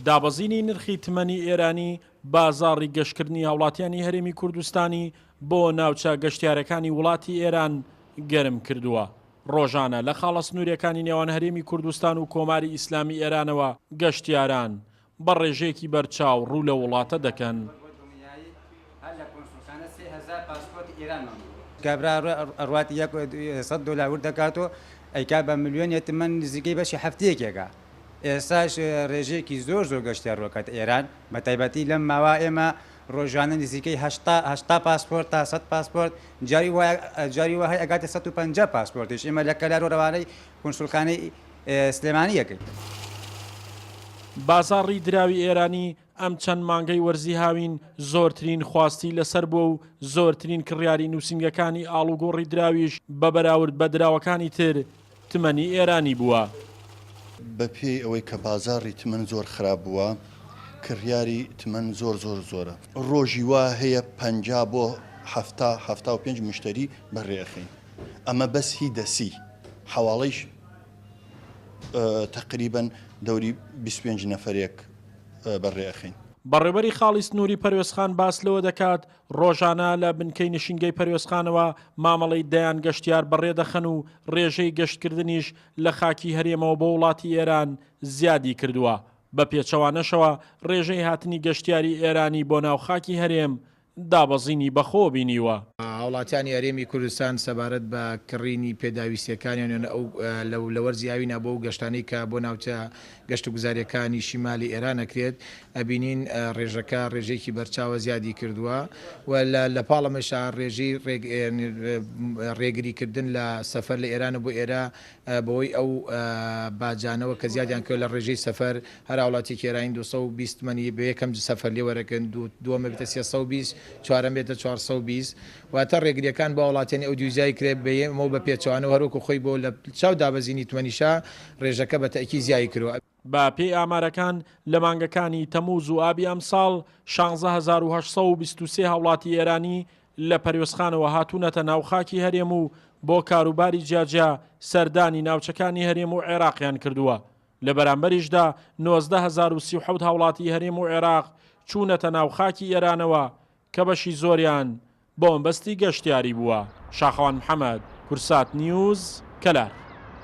دابەزینی نرخی تمەنی ئێرانی بازاڕی گەشتکردنی هاوڵاتیانی هەرێمی کوردستانی بۆ ناوچە گەشتیارەکانی وڵاتی ئێران گەرم کردووە. ڕۆژانە لە خاڵە سنووریەکانی نێوان هەرێمی کوردستان و کۆماری ئیسلامی ئێرانەوە گەشتیاران بە ڕێژەیەکی بەرچاو ڕوو لە وڵاتە دەکەن. هەر لە کۆنسولخانە سێ هەزار پاسپۆرتی ئێران مابوو. کابرا ئەڕوات یەک سەد دۆلار ورد دەکات و ئەیکات بە ملیۆنێ تمەن نزیکەی بەشی هەفتەیەکێکە. ئێستاش رێژەیەکی زۆر زۆر گەشتیار رۆکەتە ئێران، بە تایبەتی لەم ماوە ئێمە رۆژانە نزیکەی هەشتا هەشتا پاسپۆرت تا سەد پاسپۆرت جاری وا جاری وا هەی ئەگاتە سەد و پەنجا پاسپۆرتیش ئێمە لە کەلارۆ رەوانەی کونسولخانەی سلێمانی ئەکەین. بازاڕی دراوی ئێرانی ئەم چەند مانگەی وەرزی هاوین زۆرترین خواستی لەسەر بووە و زۆرترین کڕیاری نووسینگەکانی ئاڵوگۆڕی دراویش بە بەراورد بە دراوەکانی تر تمەنی ئێرانی بووە. بە پێی ئەوەی کە بازاڕی تمەن زۆر خراپ بووە، کڕیاری تمەن زۆر زۆر زۆرە. ڕۆژی وا هەیە پەنجا بۆ حەفتا، حەفتا و پێنج مشتەری بە رێ ئەخەین. ئەمە بەس هی دەسی. حەواڵەیش تەقریبەن دەوری بیست و پێنج نەفەرێک بەڕێ ئەخەین. بەڕێوەبەری خاڵی سنووری پەروێزخان باس لەوە دەکات، ڕۆژانە لە بنکەی نشینگەی پەروێزخانەوە مامەڵەی دەیان گەشتیار بەڕێ دەخەن و ڕێژەی گەشتکردنیش لە خاکی هەرێمەوە بۆ وڵاتی ئێران زیادی کردووە، بە پێچەوانەشەوە ڕێژەی هاتنی گەشتیاری ئێرانی بۆ ناو خاکی هەرێم دابەزینی بەخۆوە بینیوە. هاوڵاتیانی هەرێمی کوردستان سەبارەت بە کڕینی پێداویستییەکانیان لە وەرزی ئاوی نابەوە و گەشتانەی کە بۆ ناوچە گەشتوگوزارییەکانی شیمالی ئێران ئەکرێت ئەبینین ڕێژەکە ڕێژەیەکی بەرچاوە زیادی کردووە و لە پاڵ ئەمەشا ڕێژەی ڕێگریکردن لە سەفەر لە ئێران و بۆ ئێرە بەوەی ئەو باجانەوە کە زیادیان کردوە لە ڕێژەی سەفەر، هەر هاوڵاتیەکی ئێرانی دوو سەد و بیست تمەنی بە یەکەم سەفەر لێ وەرەگرن، دووەم ببێتە سێ سەد و بیست، چوارەم بێتە چوار سەد و بیست. واتە ڕێگرییەکان بۆ هاوڵاتیانی ئەودیوی زیای کرێ بە یەم و بە پێچەوانەوە هەروەکو خۆی بۆ لە چاو دابەزینی تمەنیشا ڕێژەکە بە تەئکید زیای کردوە. بە پێی ئامارەکان، لە مانگەکانی تەمووز و ئابی ئەمساڵ، شانزە هەزار و هەشت سەد و بیست و سێ هاوڵاتی ئێرانی لە پەروێزخانەوە هاتوونەتە ناو خاکی هەرێم و بۆ کاروباری جیاجیا سەردانی ناوچەکانی هەرێم و عێراقیان کردووە، لە بەرامبەریشدا نۆزدە هەزار و سی و حەوت هاوڵاتی هەرێم و عێراق چوونەتە ناو خاکی ئێرانەوە کە بەشی زۆریان بۆمەبەستی گەشتیاری بووە. شاخەوان محەمەد، کورسات نیوز، کەلار.